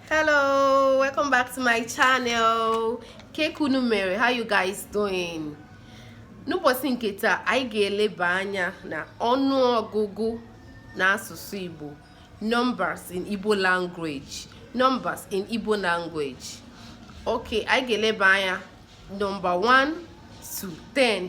hello welcome back to my channel kee ka unu mere how you guys doing n'ụbọchị nke taa anyị ga-eleba anya na ọnụ ọgụgụ na asụsụ igbo numbers in igbo language okay anyị ga-eleba anya number 1 to 10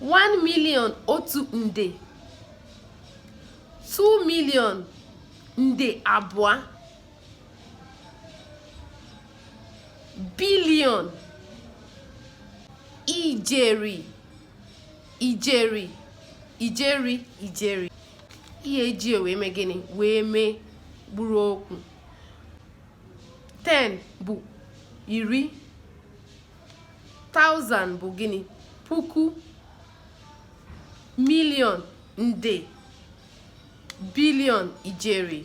1 million otu nde 2 million nde abụọ billion ijeri ijeri ijeri ijeri ihe e ji wee mee gịnị wee mee mkpụrụ okwu 10 bụ iri thousand bụ gịnị puku million nde billion ijeri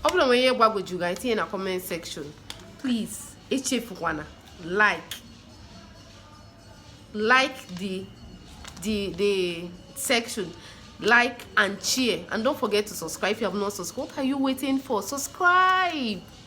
ọ bụrụ na o nwere ihe gbagwoju gị i tinye na comment section please echefukwana like like the the the section like and share and don't forget to subscribe if you have not subscribed what are you waiting for subscribe